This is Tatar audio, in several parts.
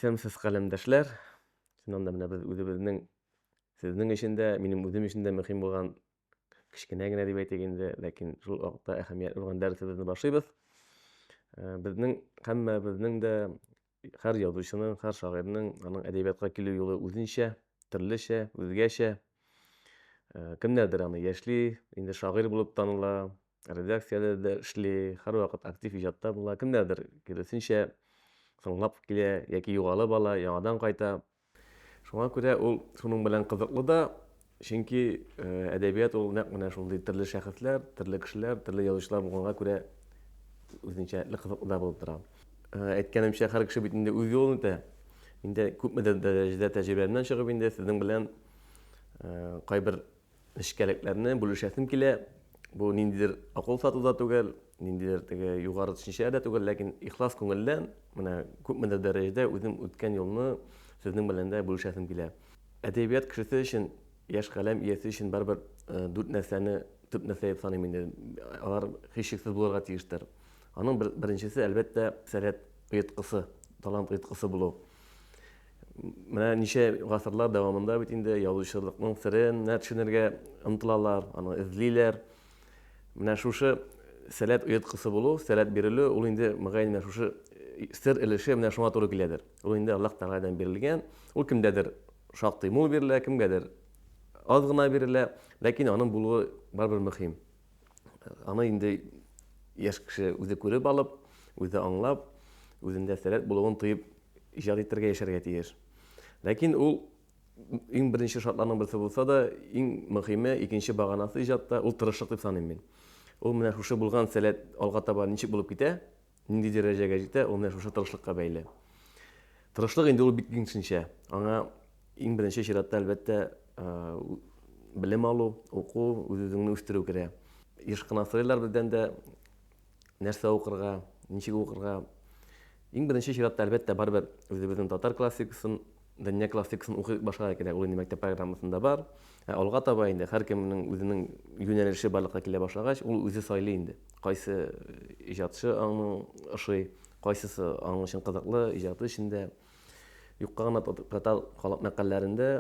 Тәмсез каләмдәшләр, чыннан да менә без үзебезнең, сезнең өчен дә, минем үзем өчен дә мөһим булган кечкенә генә дип әйтик инде, ләкин шул вакытта әһәмиятле булган дәресебезне башлыйбыз. Э, безнең һәммәбезнең дә һәр язучының, һәр шагыйрьнең аның әдәбиятка килү юлы үзенчә, төрлечә, үзгәчә. Э, кемнәрдер аны яшьли, инде шагыйрь булып таныла, Редакцияләр дә эшли, һәрвакыт актив иҗатта була. Кемнәрдер киресенчә соңлап килә яки югалып ала, яңадан кайта. Шуңа күрә ул шуның белән кызыклы да, чөнки әдәбият ул нәкъ менә шундый төрле шәхесләр, төрле кешеләр, төрле язучылар булганга күрә үзенчәлекле кызыклы да булып тора. Әйткәнемчә, һәр кеше бит инде үз юлын үтә. Мин дә күпмедер дәрәҗәдә тәҗрибәмнән чыгып инде сезнең белән кайбер Нечкәлекләрне бүлешәсем килә. Бу ниндидер акыл сату да түгел, ниндидер теге югары төшенчә дә түгел, ләкин ихлас күңелдән менә күпмедер дәрәҗәдә үзем үткән юлны сезнең белән дә бүлешәсем килә. Әдәбият кешесе өчен, яшь каләм иясе өчен барыбер дүрт нәрсәне төп нәрсә дип саныйм инде. Алар һичшиксез булырга тиештер. Аның беренчесе, әлбәттә, сәләт оеткысы, талант оеткысы булу. Менә ничә гасырлар дәвамында бит инде язучылыкның серенә төшенергә омтылалар, аны эзлиләр. Менә шушы сәләт оеткысы булу, сәләт бирелү, ул инде, мөгаен, менә шушы сер өлеше менә шуңа туры киләдер. Ул инде Аллаһ Тәгаләдән бирелгән. Ул кемдәдер шактый мул бирелә, кемгәдер аз гына бирелә, ләкин аның булуы барыбер мөһим. Аны инде яшь кеше үзе күреп алып, үзе аңлап, үзендә сәләт булуын тоеп, иҗат итәргә, яшәргә тиеш. Ләкин ул иң беренче шартларның берсе булса да, иң мөһиме, икенче баганасы иҗатта, ул тырышлык дип саныйм мин. Ул менә шушы булган сәләт алга таба ничек булып китә, Нинди дәрәҗәгә җитә, ул менә шушы тырышлыкка бәйле. Тырышлык инде ул бик киң төшенчә. Аңа иң беренче чиратта, әлбәттә, белем алу, уку, үз-үзеңне үстерү керә. Еш кына сорыйлар бездән дә, нәрсә укырга, ничек укырга. Иң беренче чиратта, әлбәттә, барыбер үзебезнең татар классикасын Дания классикасын укыйк башкага кирәк, ул инде мәктәп программасында бар. Ә алга таба инде һәркемнең үзенең юнәлеше барлыкка килә башлагач, ул үзе сайлый инде. Кайсы э, иҗатчы аңның ошый, кайсысы аның өчен кызыклы, иҗаты өчен дә. Юкка гына портал халык мәкалләрендә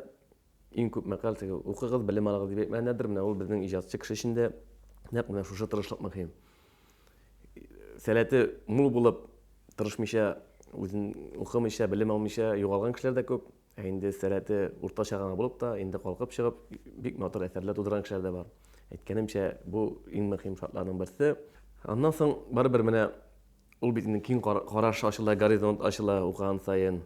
иң күп мәкаль теге укыгыз, белем алыгыз дип әйтмәгәннәрдер. Менә ул безнең иҗатчы кеше өчен дә нәкъ менә шушы тырышлык мөһим. сәләте мул булып, тырышмыйча, үзен укымыйча, белем алмыйча югалган кешеләр дә күп. Ә инде сәләте уртача гына булып та, инде калкып чыгып, бик матур әсәрләр тудырган кешеләр дә бар. Әйткәнемчә, бу иң мөһим шартларның берсе. Аннан соң барыбер менә ул бит инде киң караш ачыла, горизонт ачыла укыган саен.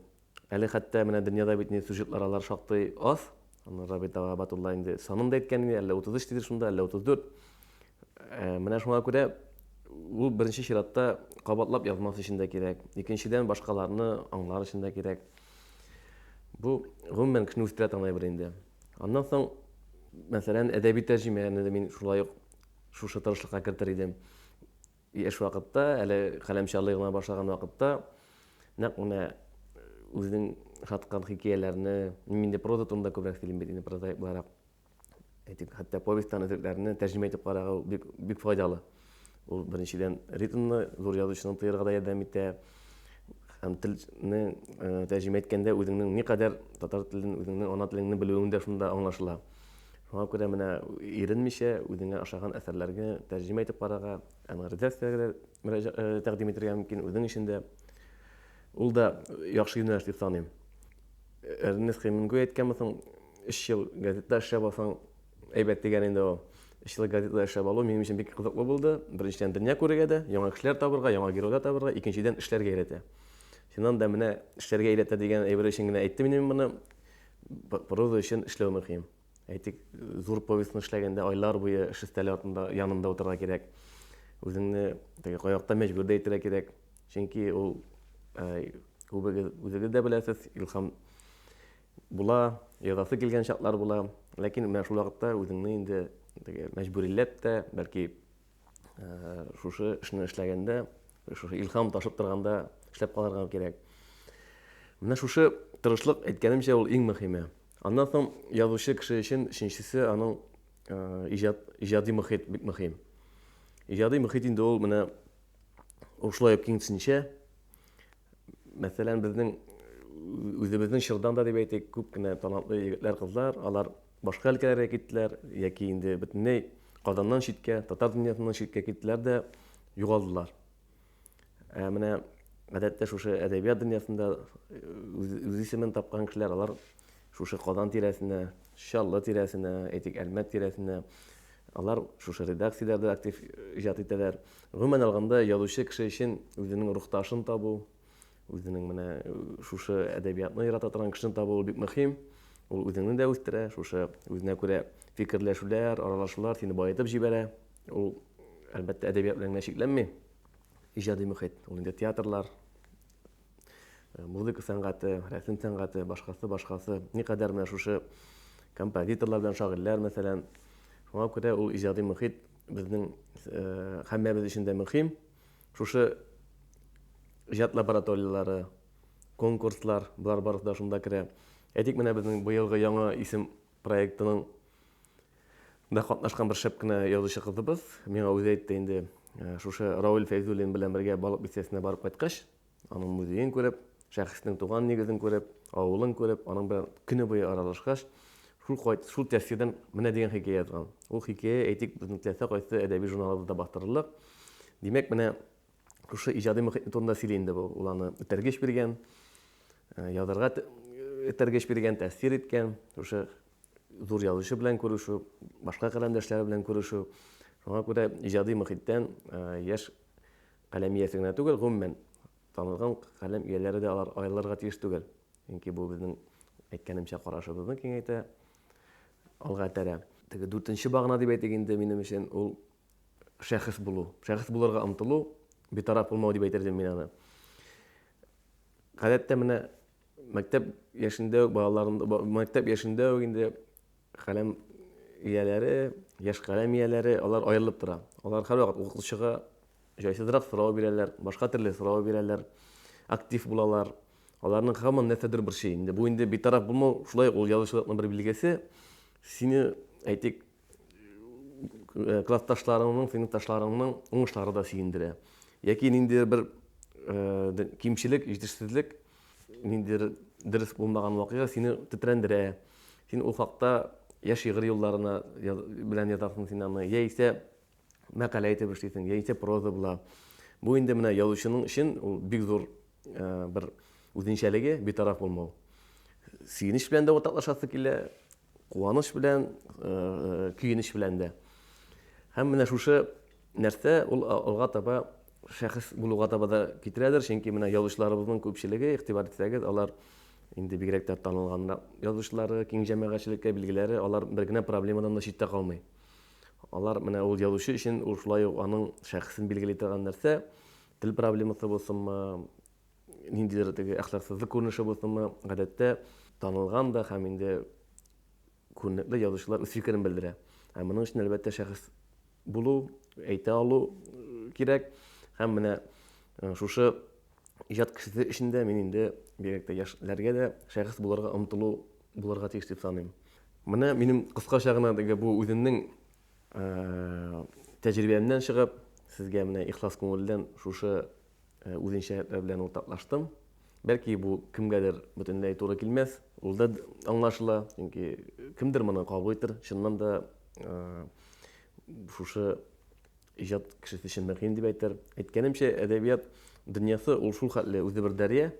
Әле хәтта менә дөньяда бит ни сюжетлар алар шактый аз. Аны Рабит Дава Батулла инде санын да әйткән иде, әллә 33 дидер шунда, әллә 34. Ә, менә шуңа күрә ул беренче чиратта кабатлап язмас өчен дә кирәк. Икенчедән, башкаларны аңлар өчен дә кирәк. Бу, гомумән, кешене үстерә торган әйбер инде. Аннан соң, мәсәлән, әдәби тәрҗемәне дә мин шулай ук шушы тырышлыкка кертер идем. И эш вакытта, әле каләм чалый гына башлаган вакытта, нәкъ менә үзенең ошаткан хикәяләрне, мин инде проза турында күбрәк сөйлим бит инде прозаик буларак, әйтик, хәтта повестьтан өзекләрне тәрҗемә итеп карагау бик, бик файдалы. Ул беренчедән ритмны зур язучының тоярга да ярдәм итә, һәм телне тәрҗемә иткәндә үзеңнең никадәр татар телен, үзеңнең ана телеңне белүең дә шунда аңлашыла. Шуңа күрә менә иренмичә үзеңә ашаган әсәрләргә тәрҗемә итеп карарга, аны редакциягә дә э, тәкъдим итергә мөмкин, үзең өчен дә. Ул да яхшы юнәлеш дип саныйм. Эрнест Хемингуэй әйткәнме соң, өч ел газетада эшләп алсаң, әйбәт дигән инде ул. Өч ел газетада эшләп алу минем өчен бик кызыклы булды. Беренчедән, дөнья күрергә дә, яңа кешеләр табырга, яңа геройлар табырга, икенчедән, эшләргә өйрәтә. Чыннан да менә эшләргә өйрәтә дигән әйбер өчен генә әйттем инде мин моны. Проза өчен эшләү мөһим. Әйтик, зур повестьны эшләгәндә айлар буе эш өстәле артында, янында утырырга кирәк. Үзеңне теге каякта мәҗбүр дә итәргә кирәк. Чөнки ул күбегез үзегез дә беләсез, илһам була, язасы килгән чаклар була. Ләкин менә шул вакытта үзеңне инде теге мәҗбүриләп тә, бәлки шушы эшне эшләгәндә шушы илхам ташып торганда эшләп калырга кирәк менә шушы тырышлык әйткәнемчә ул иң мөһиме аннан соң язучы кеше өчен өченчесе аның иҗат иҗади мөхит бик мөһим иҗади мөхит инде ул менә ушулай ук киңсенчә Мәсәлән, безнең үзебезнең чордан да дип әйтик, күп кенә талантлы егетләр, кызлар, алар башка өлкәләргә киттеләр яки инде бөтенләй Казаннан читкә, татар дөньясыннан читкә киттеләр дә югалдылар. Ә менә гадәттә шушы әдәбият дөньясында үз, үз исемен тапкан кешеләр алар Шушы Казан тирәсенә, Чаллы тирәсенә, әйтик, Әлмәт тирәсенә, алар шушы редакцияләрдә актив иҗат итәләр. Гомумән алганда, язучы кеше өчен үзенең рухташын табу, үзенең менә шушы әдәбиятны ярата торган кешене табу ул бик мөһим. Ул үзеңне дә үстерә, шушы үзенә күрә фикерләшүләр, аралашулар сине баетып җибәрә. Ул, әлбәттә, әдәбият белән генә чикләнми. Иҗади мөхит, ул инде театрлар, Э, музыка сәнгате, рәсем сәнгате, башкасы, башкасы. Никадәр менә шушы композиторлар белән шагыйрьләр, мәсәлән. Шуңа күрә ул иҗади мөхит безнең э, һәммәбез өчен дә мөһим. Шушы иҗат лабораторияләре, конкурслар, болар барысы да шунда керә. Әйтик, менә безнең быелгы яңа исем проектының да катнашкан бер шәп кенә язучы кызыбыз, миңа үзе әйтте инде, э, шушы Рауль Фәйзуллин белән бергә Балык бистәсенә барып кайткач, Аның музеен күреп, шәхеснең туган нигезен күреп, авылын күреп, аның белән көне буе аралашкач, шул кайт, шул тәфсирдән менә дигән хикәя язган. Ул хикәя, әйтик, безнең теләсә кайсы әдәби журналыбызда бастырырлык. Димәк, менә шушы иҗади мөхит турында сөйли инде бу. Ул аны этәргеч биргән, язарга этәргеч биргән, тәфсир иткән. Шушы зур язучы белән күрешү, башка каләмдәшләре белән күрешү. Шуңа күрә иҗади мөхиттән яшь каләм иясе генә түгел, гомумән танылган каләм ияләре дә алар аерылырга тиеш түгел. Чөнки бу безнең әйткәнемчә карашыбызны киңәйтә, алга этәрә. Теге дүртенче багана дип әйтик инде минем өчен ул шәхес булу. Шәхес булырга омтылу, битараф булмау дип әйтер идем мин аны. Гадәттә менә Мәктәп яшендә үк балаларым, мәктәп яшендә үк инде каләм ияләре, яшь каләм ияләре, алар аерылып тора. Алар һәрвакыт укытучыга җайсызрак сорау бирәләр, башка төрле сорау бирәләр, актив булалар. Аларның һаман нәрсәдер борчый. Инде бу инде битараф булмау, шулай ул язучылыкның бер билгесе. Сине, әйтик, Э, классташларыңның, сыйныфташларыңның уңышлары да сөендерә. Яки ниндидер бер э, кимчелек, җитешсезлек, ниндидер дөрес булмаган вакыйга сине тетрәндерә. Син ул хакта я шигырь юлларына белән язасың син аны, яисә мәкалә итеп эшлисең, яисә проза була. Бу инде менә язучының өчен ул бик зур бер үзенчәлеге битараф булмау. Сөенеч белән дә уртаклашасы килә, куаныч белән, көенеч белән дә. Һәм менә шушы нәрсә ул алга таба шәхес булуга таба да китерәдер, чөнки менә язучыларыбызның күпчелеге, игътибар итсәгез, алар инде бигрәк тә танылган язучылары, киң җәмәгатьчелеккә билгеләре, алар бер генә проблемадан да читтә калмый. Алар менә ул язучы өчен ул шулай ук аның шәхесен билгели торган нәрсә, тел проблемасы булсынмы, ниндидер теге әхлаксызлык күренеше булсынмы, гадәттә танылган да һәм инде күренекле язучылар үз фикерен белдерә. Һәм моның өчен әлбәттә шәхес булу, әйтә алу кирәк. Һәм менә шушы иҗат кешесе өчен дә мин инде бигрәк тә яшьләргә дә шәхес булырга омтылу булырга тиеш дип саныйм. Менә минем кыскача гына теге бу үземнең тәҗрибәмнән чыгып, сезгә менә ихлас күңелдән шушы үзенчәлекләр белән уртаклаштым. Бәлки бу кемгәдер бөтенләй туры килмәс, ул да аңлашыла, чөнки кемдер моны кабул итер, чыннан да шушы Иҗат кешесе өчен мөһим, дип әйтер. Әйткәнемчә, әдәбият дөньясы ул шул хәтле үзе бер дәрья.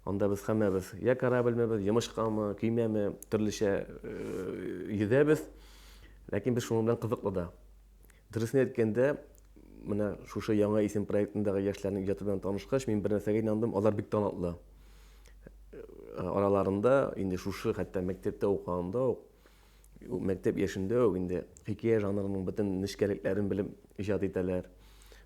Анда без һәммәбез йә корабльмебез, йомычкамы, көймәме, төрлечә йөзәбез. Ләкин без шуның белән кызыклы да. Дөресен әйткәндә, менә шушы яңа исем проектындагы яшьләрнең иҗаты белән танышкач, мин бер нәрсәгә инандым, алар бик талантлы. Араларында инде шушы хәтта мәктәптә укыганда ук Ул мәктәп яшендә үк инде хикәя жанрының бөтен нечкәлекләрен белеп иҗат итәләр.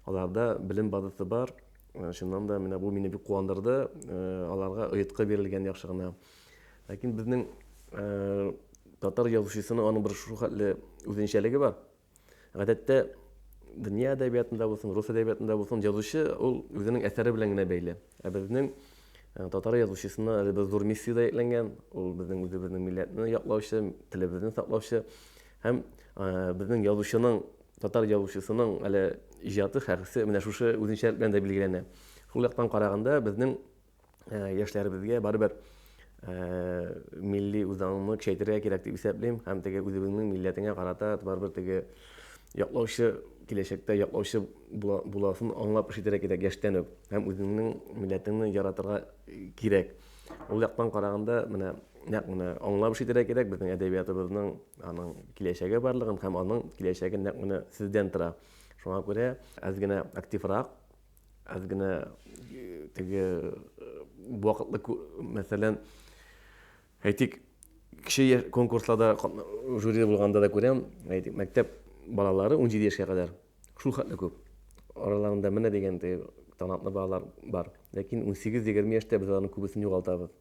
Аларда белем базасы бар. Э, чыннан да менә бу мине бик куандырды. Э, аларга оеткы бирелгән яхшы гына. Ләкин безнең э, татар язучысының аның бер шул хәтле үзенчәлеге бар. Гадәттә, дөнья әдәбиятында булсын, рус әдәбиятында булсын, язучы ул үзенең әсәре белән генә бәйле. Ә безнең э, татар язучысына әле бер зур миссия дә йөкләнгән. Ул безнең үзебезнең милләтне яклаучы, телебезне саклаучы һәм э, безнең язучының, татар язучысының әле иҗаты, хәкесе менә шушы үзенчәлек белән дә билгеләнә. Шул яктан караганда безнең ә, яшьләребезгә барыбер ә, милли үзаңны көчәйтергә кирәк дип исәплим һәм теге үзебезнең милләтеңә карата барыбер теге яклаучы киләчәктә яклаучы була, буласын аңлап эш итәргә кирәк яшьтән үк һәм үзеңнең милләтеңне яратырга кирәк ул яктан караганда менә нәкъ менә аңлап эш итәргә кирәк безнең әдәбиятыбызның аның киләчәге барлыгын һәм аның киләчәге нәкъ менә сездән тора шуңа күрә әз генә активрак Аз гына теге вакытлы, мәсәлән, әйтик, кеше конкурсларда жюри булганда да күрәм, әйтик, мәктәп балалары 17 яшькә кадәр шул хәтле күп. Араларында менә дигән талантлы балалар бар. Ләкин 18-20 яшьтә без аларның күбесен югалтабыз.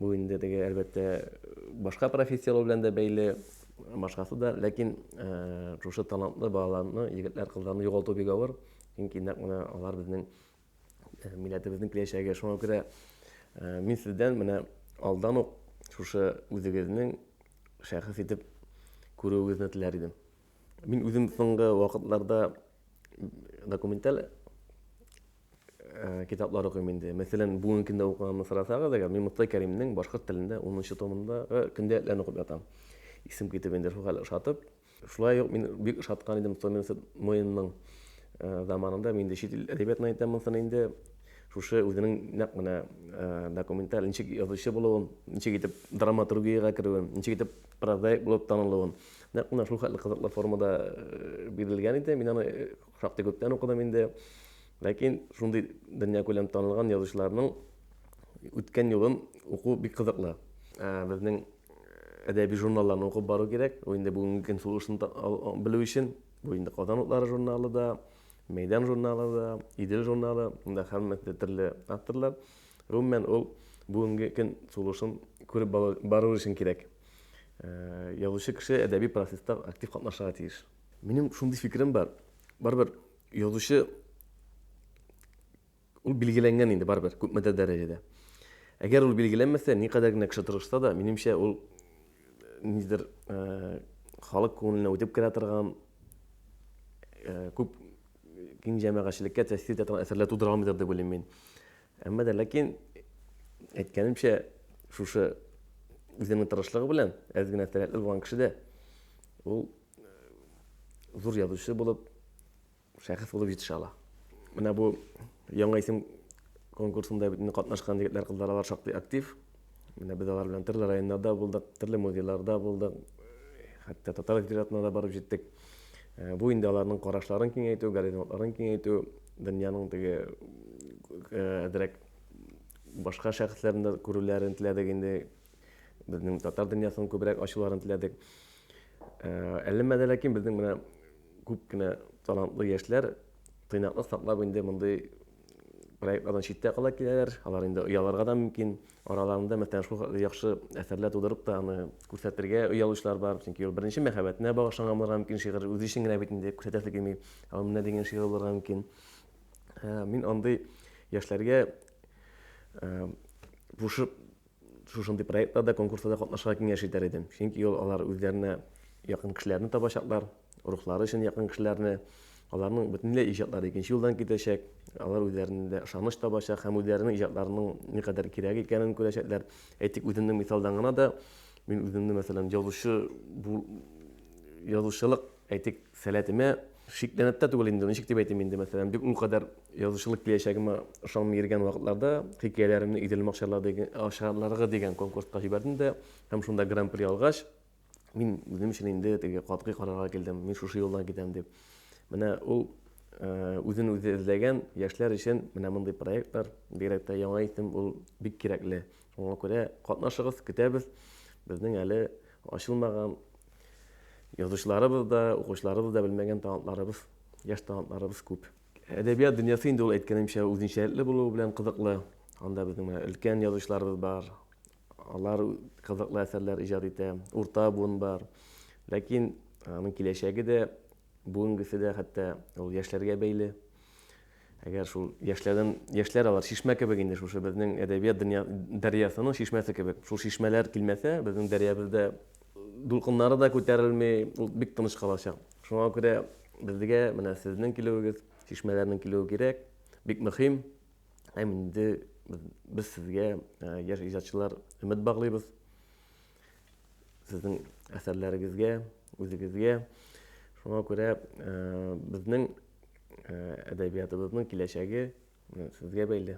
Бу инде теге, әлбәттә, башка профессияләр белән дә бәйле, башкасы да. Ләкин э, шушы талантлы балаларны, егетләр, кызларны югалту бик авыр. Чөнки нәкъ менә алар безнең э, милләтебезнең киләчәге. Шуңа күрә э, мин сездән менә алдан ук шушы үзегезнең шәхес итеп күрүегезне теләр идем. Мин үзем соңгы вакытларда документаль Э, китаплар укыйм инде. Мәсәлән, бүген кемдә укыганымны сорасагыз, әгәр мин Мостай Кәримнең башкорт телендә 10-нчы томындагы көндәлекләрен укып ятам. Исем китеп инде шул хәле ошатып. Шулай ук мин бик ошаткан идем Томирис Моинның э, заманында мин инде чит ил әдәбиятына әйтәм монсын инде. Шушы үзенең нәкъ менә э, документаль ничек язучы булуын, ничек итеп драматургиягә керүен, ничек итеп прозаик булып танылуын. Нәкъ менә шул хәтле кызыклы формада бирелгән иде. Мин аны Шактый күптән укыдым инде. Ләкин шундый дөньякүләм танылган язучыларның үткән юлын уку бик кызыклы. Ә, безнең әдәби журналларны укып бару кирәк. Бу инде бүгенге көн сулышын белү өчен. Бу инде Казан утлары журналы да, Мәйдан журналы да, Идел журналы, монда һәммәсе дә төрле авторлар. Гомумән, ул бүгенге көн сулышын күреп бару өчен кирәк. Ә, язучы кеше әдәби процесста актив катнашырга тиеш. Минем шундый фикерем бар. Барыбер язучы ул билгеләнгән инде барыбер күпмедер дәрәҗәдә. Әгәр ул билгеләнмәсә, никадәр генә кеше тырышса да, минемчә ул нидер э, халык күңеленә үтеп керә торган э, күп киң җәмәгатьчелеккә тәэсир итә торган әсәрләр тудыра алмыйдыр дип уйлыйм мин. Әмма дә ләкин әйткәнемчә шушы үзенең тырышлыгы белән әз генә сәләтле булган кеше дә ул зур язучы булып, шәхес булып җитешә ала. Менә бу яңа исем конкурсында бит катнашкан егетләр, кызлар алар шактый актив. Менә без алар белән төрле районнарда булдык, төрле музейларда булдык, хәтта татар литературасына да барып җиттек. Э, бу инде аларның карашларын киңәйтү, горизонтларын киңәйтү, дөньяның теге э, әзрәк башка шәхесләрне күрүләрен теләдек инде. Безнең татар дөньясын күбрәк ачуларын теләдек. Әлләмә дә ләкин безнең менә күп кенә талантлы яшьләр тыйнаклык саклап инде мондый проектлардан читтә кала киләләр. Алар инде оялырга да мөмкин. Араларында мәсәлән шул хәтле яхшы әсәрләр тудырып та аны күрсәтергә оялучылар бар. Чөнки ул беренче мәхәббәтенә багышланган булырга мөмкин шигырь. Үзе өчен генә бит инде күрсәтәсе килми. Ул менә дигән шигырь булырга мөмкин. Мин андый яшьләргә пошып Шушындый проектларда, конкурсларда катнашырга киңәш итәр идем. Чөнки ул алар үзләренә якын кешеләрне табачаклар, рухлары өчен якын кешеләрне, аларның бөтенләй иҗатлары икенче юлдан китәчәк, алар үзләрендә ышаныч табачак һәм үзләренең иҗатларының никадәр кирәк икәнен күрәчәкләр. Әйтик, үземнең мисалдан гына да, мин үземне, мәсәлән, язучы бу язучылык Әйтик, сәләтемә шикләнеп тә түгел инде, ничек дип әйтим инде, мәсәлән, бик ул кадәр язучылык киләчәгемә ышанмый йөргән вакытларда хикәяләремне Идел макчарлар дигән, акчарларыгы дигән конкурска җибәрдем дә һәм шунда гран-при алгач, мин үзем өчен инде теге катгый карарга килдем, мин шушы юлдан китәм дип. Менә ул үзен-үзе эзләгән яшьләр өчен менә мондый проектлар, бигрәк тә Яңа исем ул бик кирәкле. Шуңа күрә катнашыгыз, көтәбез. Безнең әле ачылмаган язучыларыбыз да, укучыларыбыз да белмәгән талантларыбыз, яшь талантларыбыз күп. Әдәбият дөньясы инде ул әйткәнемчә үзенчәлекле булуы белән кызыклы. Анда безнең менә өлкән язучыларыбыз бар. Алар кызыклы әсәрләр иҗат итә. Урта буын бар. Ләкин аның киләчәге дә, бүгенгесе дә хәтта ул яшьләргә бәйле. Әгәр шул яшьләрдән, яшьләр алар чишмә кебек инде, шушы безнең әдәбият дөнья, дәрьясының чишмәсе кебек. Шул чишмәләр килмәсә, безнең дәрьябездә дулкыннары да күтәрелми, ул бик тыныч калачак. Шуңа күрә безгә менә сезнең килүегез, чишмәләрнең килүе кирәк, бик мөһим. Һәм инде без сезгә, яшь иҗатчылар, өмет баглыйбыз. сезнең әсәрләрегезгә, үзегезгә. Шуңа күрә э, безнең э, әдәбиятыбызның киләчәге э, сезгә бәйле.